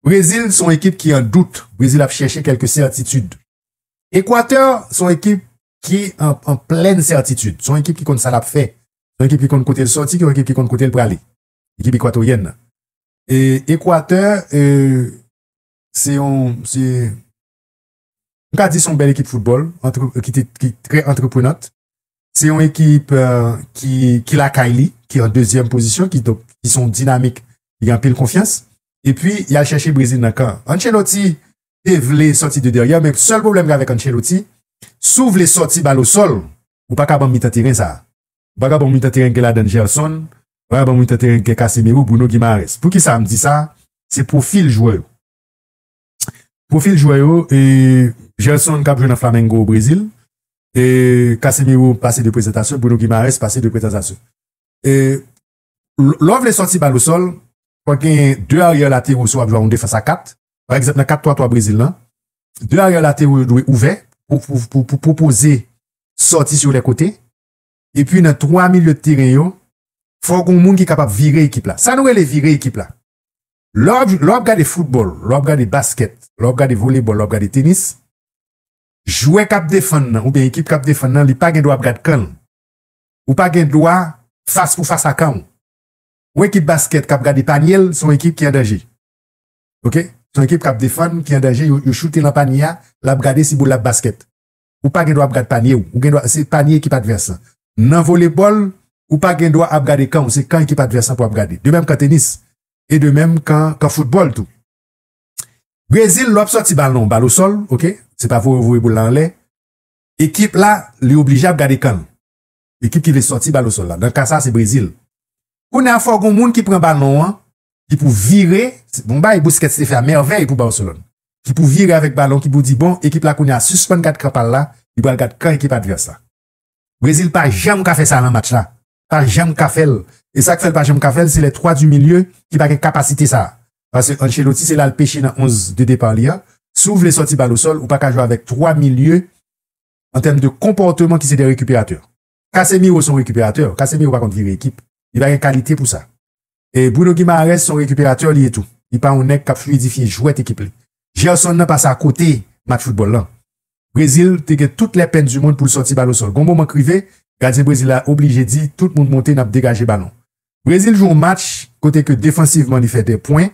Brezil son ekip ki an dout, Brezil ap chèche kèlke sètitid. Ekwatè son ekip ki an plèn sètitid, son ekip ki konn sa lap fè, son ekip ki konn kote l sòti, son ekip ki konn kote l prale, ekip ekwatoryèn nan. Ekwatè se yon. M ka di se yon bèl ekip foutbòl ki te ki trè antreprenant. Se yon ekip ki ki lakay li, ki an dezyèm pozisyon, ki donk ki se yon dinamik ki gen anpil konfyans. Epi y al chèche Brezil nan kan. Ancelotti te vle sòti de dèryè men sèl pwoblèm gen avèk Ancelotti, si w vle sòti bal osòl, ou pa ka ban m mitan teren sa a. Ou pa ka ban m mitan teren ki gen ladan Gerson, ou pa ka ban m mitan teren ki gen Casemiro, Bruno Guimaraes. Poukisa m di sa? Se pwofil jwè yo. Pwofil jwè yo, Gerson k ap jwe nan Flamengo Brezil, Casemiro pase 2 prezantasyon, Bruno Guimaraes pase 2 prezantasyon. Lè w vle sòti bal osòl, fò w genyen 2 aryè latero si w ap jwe yon defans a 4. Pa egzanp nan 4-3-3 Brezil lan, 2 aryè latero yo dwe ouvè pou pwopoze sòti sou lè kote. Epi nan 3 milye de teren yo, fò w gen yon moun ki kapab vire ekip la. Sa nou rele vire ekip la? Lè w ap gade foutbòl, lè w ap gade baskèt, lè w ap gade volebòl, lè w ap gade tenis, jwè k ap defann nan oubyen ekip k ap defann nan li pa gen dwa ap gad kan l. Ou pa gen dwa fas pou fas a kan w. Yon ekip baskèt k ap gade panye l, se yon ekip ki an danje. Ok, se yon ekip k ap defann ki an danje, yo choute lan panye a, l ap gade si boul la ap baskèt. ou pa gen dwa ap gad panye w, ou gen dwa se panye ekip advès lan. Nan volebòl, ou pa gen dwa ap gade kan w, se kan ekip advès lan pou ap gade. De menm kan tenis, e de menm kan kan foutbòl tou. Brezil, lè w ap sòti balon, bal o sòl, ok, se pa voye w voye boul la anlè, ekip la li oblije ap gade kan l. ekip ki vle sòti bal osòl la, nan ka sa se Brezil. Kounye a fò gon moun ki pran balon an, ki pou vire, se bon bagay Busquets te fè a mèvèy pou Barcelone, ki pou vire avèk balon, ki pou di bon ekip la kounye a sispann gad kan pa l la, li pral gad kan ekip advès la. Brezil pa janm ka fè sa nan match la, pa janm ka fè l, e sa k fè l pa janm ka fè l se les trois du milieu ki pa gen kapasite sa a, paske Ancelotti se la l peche nan 11 de départ li an, si w vle sòti bal osòl ou pa ka jwe avèk 3 milieu. an tèm de konpòteman ki se de rekiperatè. Casemiro se yon rekiperatè, Casemiro pa konn vire ekip, li pa gen kalite pou sa. E Bruno Guimaraes se yon rekiperatè li ye tou, li pa yon nèg k ap fluidifye jwèt ekip li. Gerson nan pase akote match foutbòl lan. Brezil te gen tout lè pèn di mond pou l sòti bal o sòl. Gon moman k rive, gadyen Brezil la oblije di tout moun monte n ap degaje balon. Brezil jwe yon match kote ke defansivman li fè de pwen,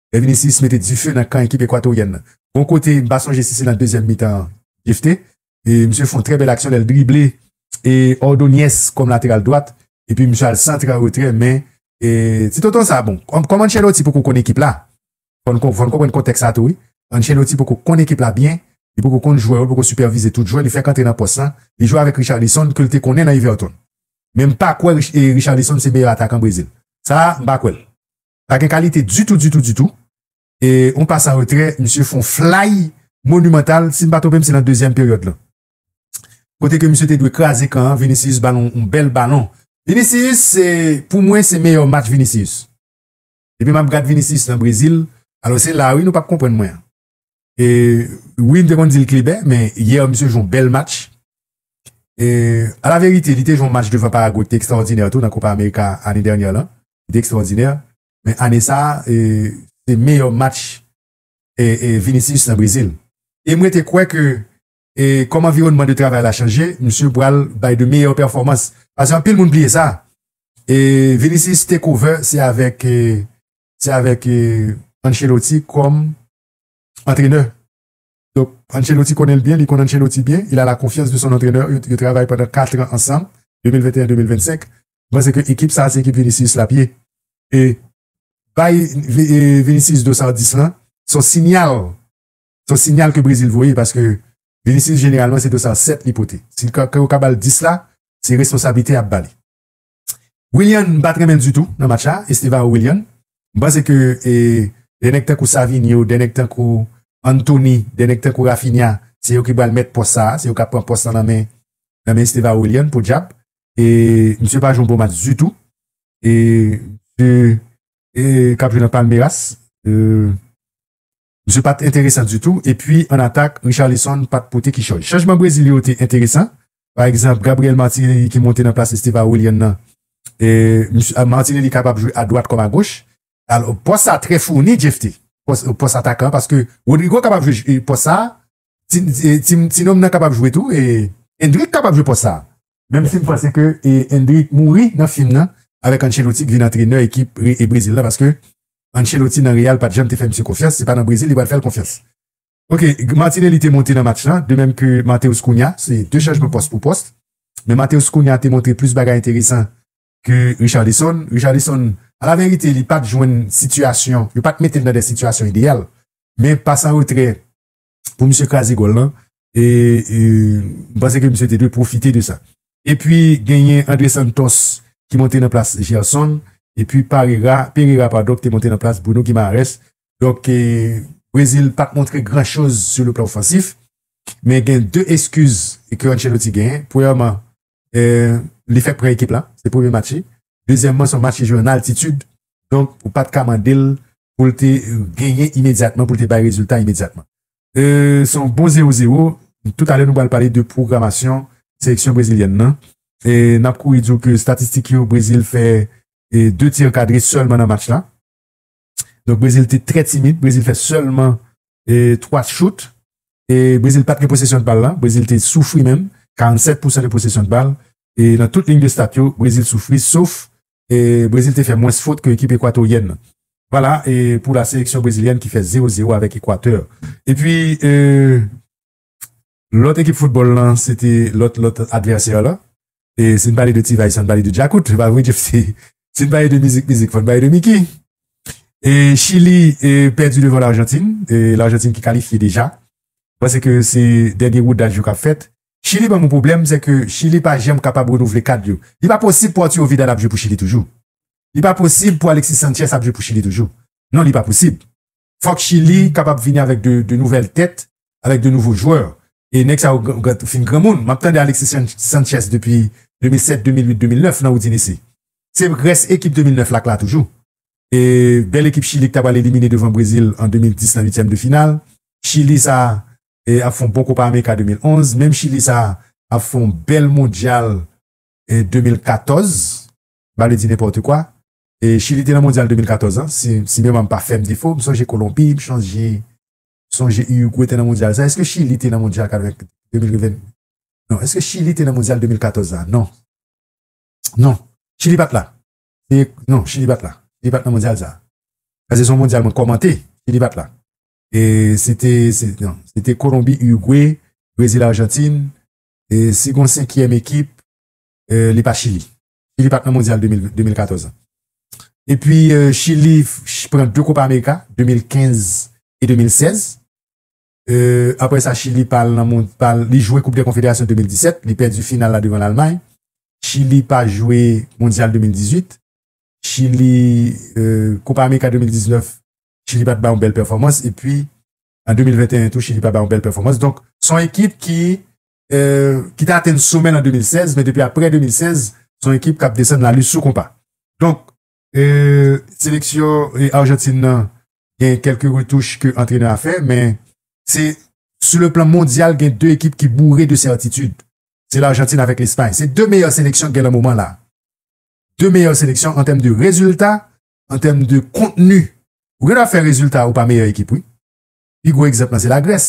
Lè Vinicius mete dife nan kan ekip Ekwatoryèn nan. Bon kote, m pa sonje si se nan dezyèm mitan an, Jephté. E misye fè yon trè bèl aksyon lè l drible e Ordóñez kòm lateral dwat epi misye al santre an retrè men e ti tonton sa bon. Kòm Ancelotti poko konn ekip la, fò n konprann kontèks sa tou wi. Ancelotti poko konn ekip la byen, li poko konn jwè yo, li poko sipèvize tout jwè, li fèk antre nan pòs lan. Li jwe avèk Richarlison ke l te konnen nan Everton. Men m pa kwè Richarlison se meyè atakan Brezil. Sa a, m pa kwè l. Pa gen kalite ditou ditou ditou e yon pas an retrè misye fon flay monumental si m pa twonpe m se nan dezyèm peryòd lan kote ke misye te dwe kraze kan an Vinicius bal yon bèl balon Vinicius se pou mwen se meyè match Vinicius depi map gad Vinicius nan Brezil alò se la wi nou pap konprann mwen an. Wi m te konn di l klebè men yè misye jwe yon bèl match alaverite li te jwe yon match devan Paragwe ki te ekstraòdinè tou nan Kopa Amerika ane dènyè lan li te ekstraòdinè men ane sa se meyè match Vinicius nan Brezil e m rete kwè ke kòm anviwònman de travay la chanje misye pral bay de meyè pèfòmans paske anpil moun bliye sa Vinicius Takeover se avèk se avèk Ancelotti kòm antrenè. Donk, Ancelotti konnen l byen, li konn Ancelotti byen, il a la confiance de son entraineur, yo travay pandan 4 tran ansanm, 2021-2025, m panse ke ekip sa a se ekip Vinicius l ap ye. E bay Vinicius dos ao dis lan, se yon sinyal, se yon sinyal ke Brezil voye, paske Vinicius jeneralman se dos ao 7 li pote. Si yo ka ba l 10 la, se responsablite y ap ba li. Willian m pat renmen ditou nan match la Estevao Willian m panse ke de nèg tankou Savinho de nèg tankou Anthony de nèg tankou Raphinha se yo ki pral mèt pòs sa se yo kap pran pòs lan nan men nan men Estevao Willian podyab e misye pa jwe yon bon match ditou e misye e kap jwe nan Palmeiras e. Misye pat enteresan ditou epi an atak Richarlison pat pote kichòy. Chanjman Brezil yo te enteresan, pa egzanp Gabriel Martinelli ki monte nan plas Esteva Willian nan. Martinelli kapab jwe a dwat kòm a goch. Pòs sa trè founi Jephte, pòs atakan paske Rodrygo kapab jwe pòs sa. Ti nonm nan kapab jwe tou Endrick kapab jwe pòs sa menm si m panse ke Endrick mouri nan fim nan avèk Ancelotti k vin antrenè ekip Brezil la paske Ancelotti nan Real pat janm te fè misye konfyans se pa nan Brezil li pral fè l konfyans Ok Martinelli te monte nan match lan de menm ke Matheus Cunha se 2 chanjman pòs pou pòs men Matheus Cunha te montre plis bagay enteresan ke Richarlison Richarlison alaverite li pat jwenn sitiyasyon yo pat mete l nan de sitiyasyon ideyal men pas an retrè. pou misye kraze gòl lan e m panse ke misye te dwe pwofite de sa. E pwi genyen Andre Santos ki monte nan plas Gerson e pwi Parera, Pereira padon ki te monte nan plas Bruno Guimaraes. Donk Brezil pa t montre gran choz sou le plan ofansif men gen 2 eskiz ke Ancelotti genyen. Premyèman li fèk pran ekip la, se premye match li. Dezyèmman, se yon match li jwe an altitid, donk ou pa t ka mande l pou l te genyen imedyatman, pou l te bay rezilta imedyatman. Se yon bon zewo zewo. Tout alè, nou pral pale de pwogramasyon seleksyon brezilyèn nan. N ap kouri di w ke estatistik yo, Brezil fè 2 ti ankadre sèlman nan match la. Donk Brezil te trè timid, Brezil fè sèlman 3 chout e Brezil pat gen posesyon de bal la, Brezil te soufri menm, 47 pousan de posesyon de bal e nan tout ligne de stat yo Brezil soufri sof Brezil te fè mwens fot ke ekip ekwatoryèn nan. Vwala e pou la seleksyon brezilyèn ki fè 0-0 avèk Ekwatè. Epi e. Lòt ekip foutbòl lan se te lòt lòt advèsè lan. E si n pale de T-Vice fò n pale de Djakout, e pa vre Jeff T? Si n pale de mizik mizik fò n pale de Micky. E Chili pèdi devan Larjantin, e Larjantin ki kalifye deja. M panse ke se dènye woudaj yo k ap fèt. Chili ban m yon pwoblèm, se ke Chili pa janm kapab renouvle kad yo. Li pa posib pou Arturo Vidal ap jwe pou Chili toujou. Li pa posib pou Alexis Sanchez ap jwe pou Chili toujou. Non, li pa posib. fòk Chili kapab vini avèk de nouvèl tèt, avèk de nouvo jwè. E nèg sa yo fin granmoun. M ap tande Alexis Sanchez depi 2007, 2008, 2009 nan Udinese. Se rès ekip 2009 la k la toujou. E bèl ekip Chili k ta pral elimine devan Brezil an 2010 nan uityèm de final. Chili sa ap fè yon bon Kopa Amerika 2011. Menm Chili sa ap fè yon bèl Mondyal 2014. Bale di nenpòte kwa. E Chili te nan mondyal 2014 an, si si memwa m pa fè m defo, m sonje Kolonbi, m chanje sonje Urugwe te nan mondyal sa. Eske Chili te nan mondyal 80 2020 non eske Chili te nan mondyal 2014 la? Non. Non. Chili pa t la. Se non Chili pa t la. Li pa t nan mondyal sa. Pase se yon mondyal mwen kòmante, Chili pa t la. E se te se non se te Kolonbi, Urugwe, Brezil, Arjantin e si gon senkyèm ekip li pa Chili. Chili pat nan mondyal 2014 an. E pi Chili pran 2 Kopa Amerika, 2015 e 2016. Apre sa Chili pa al nan mondyal, li jwe Koup dè Konfederasyon 2017, li pèdi final la devan Lalmay. Chili pa jwe mondyal 2018. Chili, Kopa Amerika 2019, Chili pat bay yon bèl pèfòmans. E pi an 2021 tou Chili pa bay yon bèl pèfòmans. Donk son ekip ki ki te atenn somè l an 2016, men depi aprè 2016, se yon ekip k ap desann la lis sou konpa. Donk, seleksyon Arjantin nan gen kèlke retouch ke antrenè a fè, men se sou le plan mondyal gen 2 ekip ki boure de sètitid, se Larjantin avèk Lespay. Se 2 meyè seleksyon k gen nan moman la. 2 meyè seleksyon an tèm de rezilta, an tèm de kontni. Ou gen dwa fè rezilta ou pa meyè ekip wi. Pi gwo egzanp lan se Lagrès.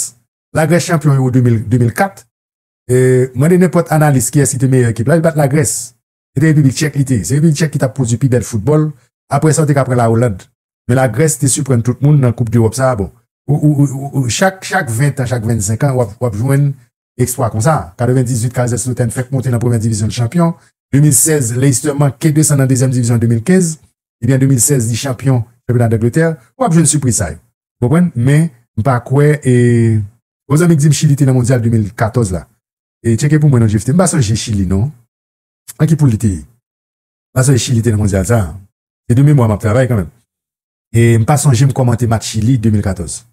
Lagrès chanpyon Euro 2004. Mande nenpòt analis kiyès ki te meyè ekip la, li pat Lagrès. Se te Repiblik Tchèk li te. Se Repiblik Tchèk ki tap pwodui pi bèl foutbòl. Aprè sa ou te ka pran La Oland. Men Lagrès te siprann tout moun nan koup dEròp sa. Bon, chak 20 tan, chak 25 an wap jwenn eksplwa konsa. 98 Kaiserslautern fèk monte nan premyè divizyon li chanpyon. 2016 Leicester manke desann nan dezyèm divizyon an 2015. Ebyen 2016 li chanpyon chanpyona Dangletè. Wap jwenn sipriz sa yo. Ou konprann? Men, m pa kwè e. Yon zanmi k di m Chili te nan Mondyal 2014 la. E tcheke pou mwen non Jephté. M pa sonje Chili non. Nan ki poul li te ye? M pa sonje Chili te nan Mondyal sa a. Se de memwa m ap travay kanmenm. E m pa sonje m kòmante match Chili 2014.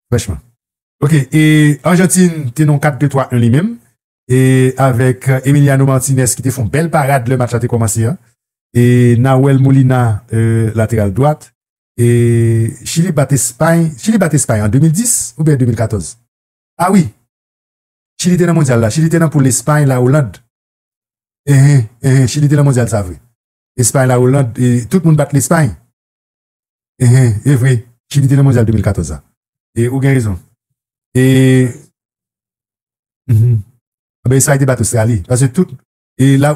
Franchman. Ok, e Argentine te nan yon 4 2 3 1 li menm. E avèk Emiliano Martinez ki te fè yon bèl parad lè match la te kòmanse an. E Nahuel Molina, lateral dwat. E chili bat espay chili bat espay an 2010 oubyen 2014 ah wi chili te nan mondyal la chili te nan poul espay la oland enhen enhen chili te nan mondyal sa vre espay la oland e tout moun bat lespay enhen evre chili te nan mondyal 2014 la e ou gen rezon e enhen anben espay te bat ostrali paske tout e la.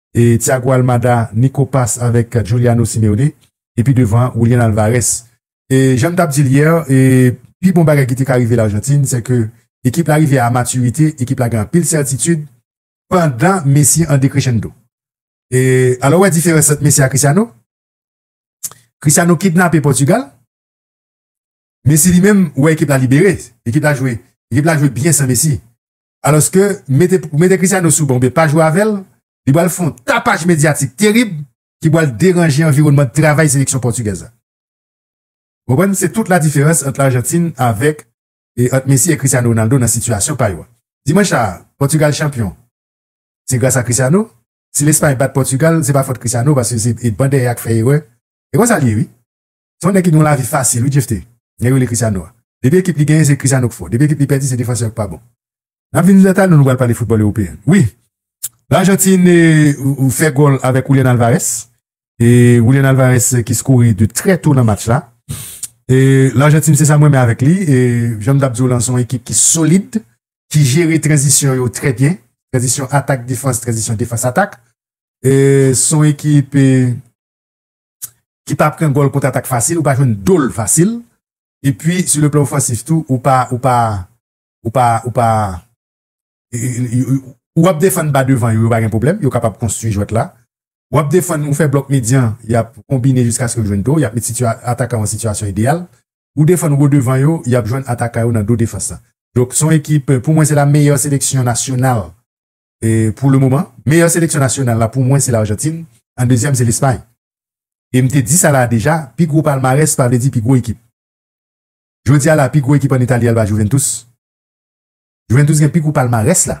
Thiago Almada, Nico Pass avèk Juliano Simeone epi devan an Julian Alvarez. Jan m t ap di l yè, pi bon bagay ki te ka rive Larjantin se ke ekip la rive a matirite, ekip la gen anpil sètitid pandan Messi an dekrechendo. Alò ou wè diferans ant Messi a Cristiano? Cristiano kidnape Pòtugal, Messi li menm ou wè ekip la libere, ekip la jwe, ekip la jwe byen san Messi. Alòske, mete pou mete Cristiano sou ban oubyen pa jwe avè l, li pral fè yon tapaj medyatik terib ki pral deranje anviwònman travay seleksyon pòtigèz la. Ou konprann? Se tout la diferans ant Larjantin avèk e ant Messi e Cristiano Ronaldo nan sitiyasyon pa yo a. Dimanch sa a, Pòtigal chanpyon, se gras a Cristiano. Si Lespay bat Pòtigal, se pa fòt Cristiano paske se ban dèyè a k fè erè. E konsa l ye wi. Se yon nèg ki gen yon lavi fasil wi Jephte, nèg yo rele Cristiano a. Depi ekip li genyen se Cristiano k fò, depi ekip li pèdi se defansè yo k pa bon. Nap vin Joseph Talon nou pral pale foutbòl ewopeyen wi. Lajantin fè gòl avèk Julian Alvarez, e Julian Alvarez ki skore de trè to nan match la. E Lajantin se sa m renmen avèk li, e janm tap diw lan se yon ekip ki solid, ki jere tranzisyon yo trè byen, tranzisyon atak defans, tranzisyon defans atak. E se yon ekip. ki pa pran gòl kontratak fasil, ou pa jwenn dol fasil, epi sou le plan ofansif tou, ou pa, ou pa, ou pa, ou pa, ou ap defann ba devan yo, yo pa gen pwoblèm, yo kapab konstwi jwèt la, ou ap defann, ou fè blòk medyan, y ap konbine jiskaske yo jwenn do, y ap met atakan yo an sitiyasyon ideyal, ou defann wo devan yo, y ap jwenn atakan yo nan do defans la. Donk, se yon ekip, pou mwen se la meyè seleksyon nasyonal pou le moman, meyè seleksyon nasyonal la pou mwen se Larjantin, an dezyèm se Lespay. E m te di sa la a deja, pi gwo palmarès pa vle di pi gwo ekip. Jodi a la a pi gwo ekip an Itali al ba Juventus. Juventus gen pi gwo palmarès la,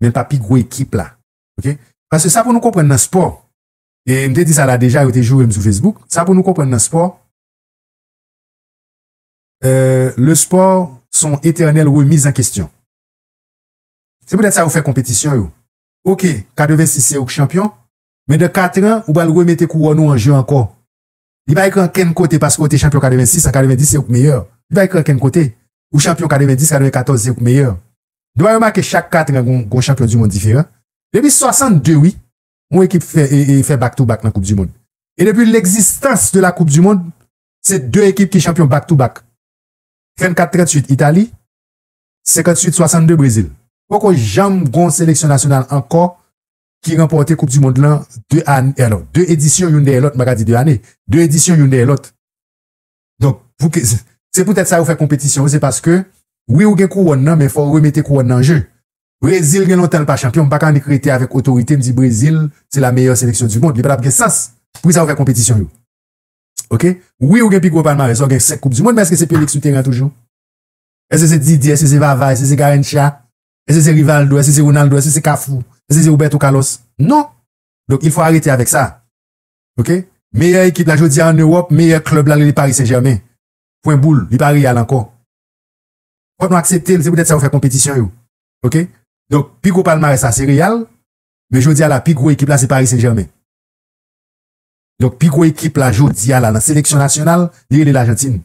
men pa pi gwo ekip la. Ok? Paske sa pou nou konprann nan spò, e m te di sa la a deja, yo te joure m sou Facebook, sa pou nou konprann nan spò, le sport son etènèl remiz an kestyon. Se poutèt sa yo fè konpetisyon yo. Ok, 86 se ou k chanpyon, men dan 4 tran ou pral remete kouwòn ou an je ankò. Li pa ekri ankenn kote paske ou te chanpyon 86 an 90 se ou k meyè. Li pa ekri ankenn kote. Ou chanpyon 90, 94 se ou k meyè. Dwa yo make chak 4 tran gon chanpyon du mond diferan. Depi 62 wi, yon ekip fè fè back to back nan koup du mond. E depi legzistans de la koup du mond, se 2 ekip ki chanpyon back to back. 34, 38 Itali. 58, 62 Brezil poko janm gon seleksyon nasyonal ankò ki ranpòte koup di mond lan 2 ane alo 2 edisyon youn dèyè lòt m pa ka di 2 ane 2 edisyon youn dèyè lòt donk pou ke se poutèt sa yo fè konpetisyon an se paske wi ou gen kouwòn nan men fò ou remete kouwòn nan an je Brezil gen lontan l pa chanpyon m pa ka annik rete avèk otorite m di Brezil se la meyè seleksyon di mond li pa t ap gen sans pou ki sa yo fè konpetisyon yo ok wi ou gen pi gwo palmarès lè w gen 5 koup di mond men èske se Pelix sou teren an toujou? Èske se Didier? Èske se Vava? Èske se Garrincha? Èske se Rivaldo? Èske se Ronaldo? Èske se Cafu? Èske se Roberto Carlos? Non! Donk il fo arete avèk sa. Ok? Meyè ekip la jodi a an Ewòp, meyè klèb la rele Paris Saint Germain. Pwen boul. Li pa Real ankò. Fòk nou aksepte l. Se poutèt sa yo fè konpetisyon yo. Ok? Donk pi gwo palmarès la se Real, men jodi a la pi gwo ekip la se Paris Saint Germain. Donk pi gwo ekip la jodi a la nan seleksyon nasyonal, li rele L'Argentine.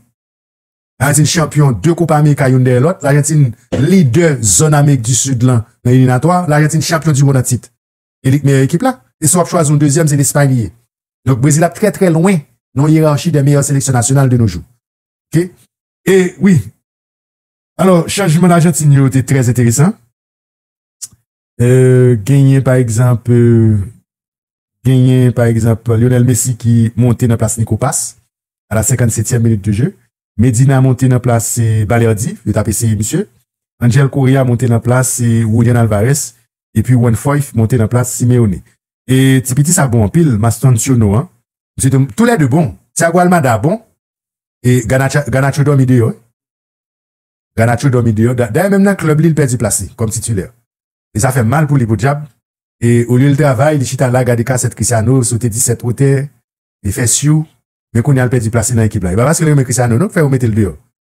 Ajantin chanpyon 2 Kopa Amerika youn dèyè lòt. Lajantin lidè zòn Amerik di Sid lan nan eliminatwa. Lajantin chanpyon di mond an tit. E li k meyè ekip la. E si w ap chwazi yon dezyèm, se Lespay li ye. Donk Brezil ap trè trè lwen nan yerachi dè meyè seleksyon nasyonal de no jou. Ok. E wi. Alò, chanjman Lajantin yo te trè enteresan. Genyen pa egzanp Genyen pa egzanp Lionel Messi ki monte nan plas Nico Pass a la 57 tièm minit de je. Medina monte nan plas Balerdi, yo tap eseye misye. Angel Correa monte nan plas Julian Alvarez epi Juan Foyth monte nan plas Simeone. E ti piti sa bon anpil, Mastantuono an, misye te tou lè 2 bon. Thiago Almada bon e Garnacho dòmi deyò wi. Garnacho dòmi deyò, dayè menm nan klèb li l pèdi plas li kòm titilè e sa fè mal pou li podyab e olye l travay li chita la gade kasèt Christiano sote 17 wotè e fè syou men kounya l pèdi plas li nan ekip la e pa paske l renmen Christiano non k fè yo mete l deyò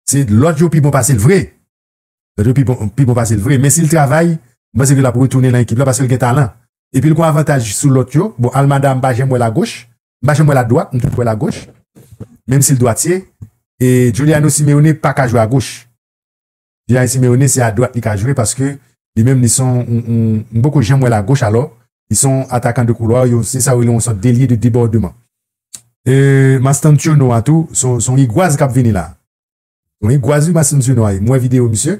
se lòt yo pi bon pase l vre lòt yo pi bon pase l vre men si l travay m panse ke l ap retounen nan ekip la paske l gen talan epi l gon avantaj sou lòt yo bon Almada m pa janm wè l agoch m pa janm wè l adwat, m toujou wè l agoch, menm si l dwatye, e Giuliano Simeone pa ka jwe agoch. Giuliano Simeone se adwat li ka jwe paske li menm li son yon, m poko janm wè l agoch alò, li son yon atakan de koulwa, yon se sa yo rele yon sòt delye de debòdeman. E Mastantuono a tou, son yon igwaz k ap vini la. Yon igwaz wi Mastantuono a ye, m wè videyo misye,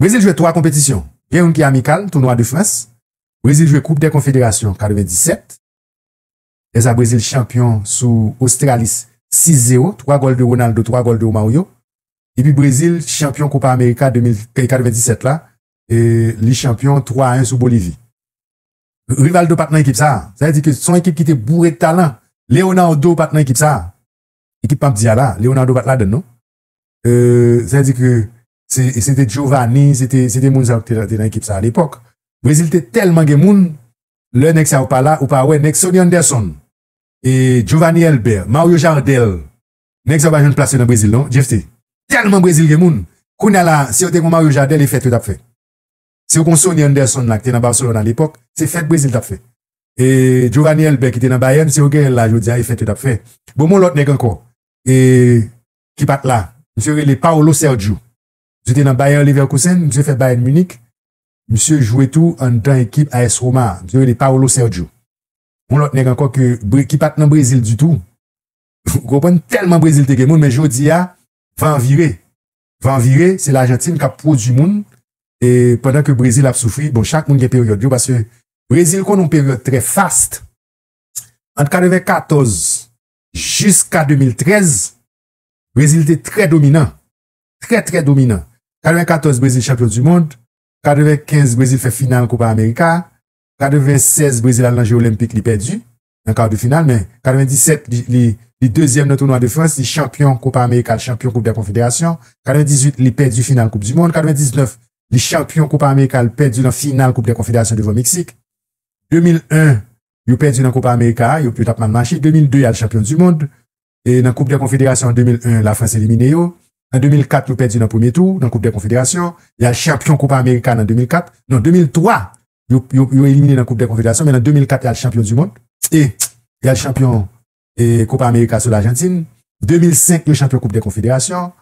Brezil jwe 3 konpetisyon, gen youn ki amikal, tounwa de Frans, Brezil jwe koup dè konfederasyon 97, lèsa Brezil chanpyon sou Ostralis 6 zero, 3 gòl de Ronaldo 3 gòl de Romario, epi Brezil chanpyon Kopa Amerika 97 la, li chanpyon 3 a 1 sou Bolivi. Rivaldo pat nan ekip sa, sa vle di ke son ekip ki te boure talan, Leonardo pat nan ekip sa, ekip map di a la, Leonardo pat ladann non, sa di ke se te Giovanni, se te moun sa yo ki te nan ekip sa a lepòk. Brezil te tèlman gen moun, lè nèg sa yo pa la, ou pa wè nèg Sonny Anderson, Giovanni Elber, Mario Jardel, nèg sa yo pa jwenn plas yo nan Brezil non, Jephte. Tèlman Brezil gen moun, kounye a la a, si yo te gen yon Mario Jardel, e fèt yo t ap fè. Si yo gen yon Sonny Anderson la ki te nan Barcelone a lepòk, se fèt Brezil t ap fè. Giovanni Elber ki te nan Bayern, si yo genyen l la jodi a, e fèt yo t ap fè. Bon, m wè yon lòt nèg ankò, e ki pa t la. Misye rele Paolo Sergio. Misye te nan Bayer Leverkusen, misye fè Bayern Munich, misye jwe tou anndan ekip AS Roma a. Misye rele Paolo Sergio. Yon lòt nèg ankò ke Bre, ki pa t nan Brezil ditou. Ou konprann? Tèlman Brezil te gen moun, men jodi a, van vire. Van vire, se Lajantin k ap pwodui moun, e pandan ke Brezil ap soufri, bon, chak moun gen peryòd yo, paske Brezil konn yon peryòd trè fast, ant 94 jiska 2013, Brezil te trè dominan, trè trè dominan. 94 Brezil chanpyon du mond, 95 Brezil fè final Kopa Amerika, 96 Brezil al nan je olenpik li pèdi nan kar de final men 97 li li dezyèm nan tounwa de Frans, li chanpyon Kopa Amerika l chanpyon koup dè konfederasyon, 98 li pèdi final koup du mond, 99 li chanpyon Kopa Amerika l pèdi nan final koup dè konfederasyon devan Meksik, 2001 Yo pèdi nan Kopa Amerika a, yo tap mal mache. 2002, y al chanpyon di mond. Nan Koup dè Konfederasyon an 2001, Lafrans elimine yo. An 2004, yo pèdi nan premye tou nan Koup dè Konfederasyon. Y al chanpyon Kopa Amerika nan 2004. Non, 2003, yo elimine nan Koup dè Konfederasyon, men nan 2004, y al chanpyon di mond. E, y al chanpyon Kopa Amerika sou Lajantin. 2005, yo chanpyon Koup dè Konfederasyon.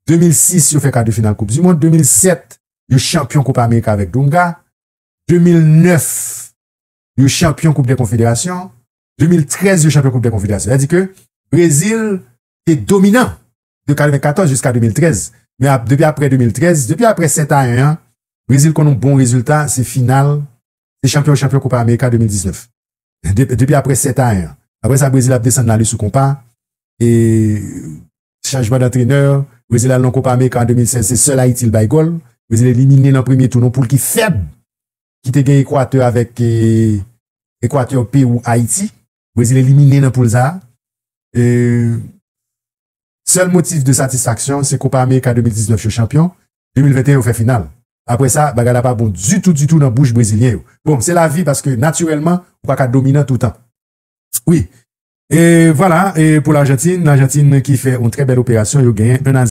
2006, yo fè kar de final Koup di mond. 2007, yo chanpyon Kopa Amerika avèk Donga. 2009, yo chanpyon koup dè konfederasyon, 2013 yo chanpyon koup dè konfederasyon. Sa di ke Brezil te dominan de 94 jiska 2013. Men ap depi apre 2013, depi apre 7 a 1 an, Brezil konn yon bon rezilta, se final, se chanpyon chanpyon koupa Amerika 2019. Depi apre 7 a 1 an. Apre sa Brezil ap desann la li sou konpa, e chanjman dantrenè, Brezil al nan koupa Amerika an 2016, se sèl Ayiti li bay gòl, Brezil elimine nan premye tou nan yon poul ki fèb. ki te gen Ekwatè avèk Ekwatè, Pewou, Ayiti. Brezil elimine nan poul sa a. Sèl motif de satisfaksyon se Kopa Amerika 2019 yo chanpyon, 2021 yo fè final. Aprè sa, bagay la pa bon ditou ditou nan bouch brezilyen yo. Bon, se lavi paske natirèlman ou pa ka dominan toutan. Wi. E vwala pou Larjantin, Larjantin ki fè yon trè bèl operasyon yo genyen 1 a.